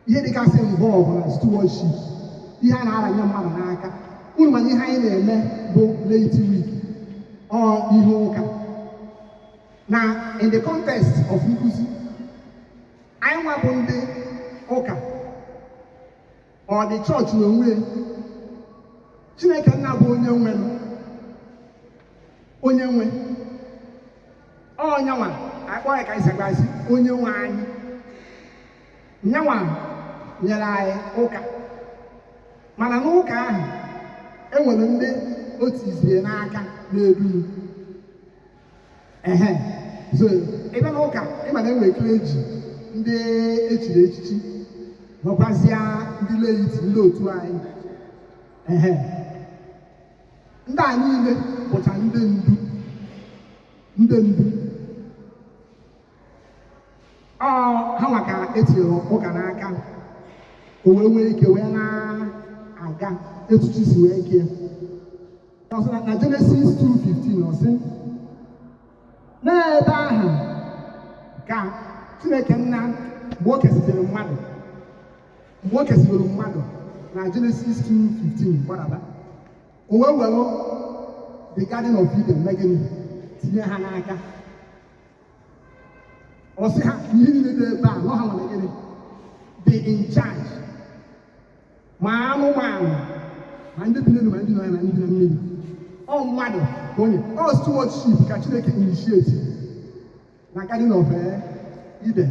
ihe dịgasị involve na stewardship ihe a na-aranye mmadụ n'aka unu ma na ihe anyị na-eme bụ laity week ọ ihe ụka na in the context of nkuzi anyị nwa bụ ndị ụka ọ the church n'onwe ya chineke nna bụ onye nwenụ onye nwe ọ nyanwa akpọ ya ka anyị sagbazi onye nwe anyị nyanwa nyere anyị ụka mana n'ụka ahụ enwere ndị o tizie n'aka na-edu ehe so ebe na ụka ị ma na enwere clergy ndị echiri echichi nwekwazịa ndị laity ndị otu anyị ehe ndị a niile bụcha ndị ndu ndị ndu ọ hanwa ka etiri ụka n'aka o wee nwee ike wee na-aga etu chi si wee kee Ọ sị na na Genesis 2:15 ọ sị n'ebe ahụ ka Chineke nna mgbe o kesịrị mmadụ mgbe o kesịrị mmadụ na Genesis 2:15 gbadaba o wee were the garden of Eden mee gịnị tinye ha n'aka ọ sị ha ihe niile dị ebe a na ọ hanwa gịnị dị in charge ma anụmanụ ma ndị bi n'elu ma ndị nọ ya na ndị bi na mmiri ọ mmadụ ka onye ọ stewardship ka chineke initiate na garden of eh, eden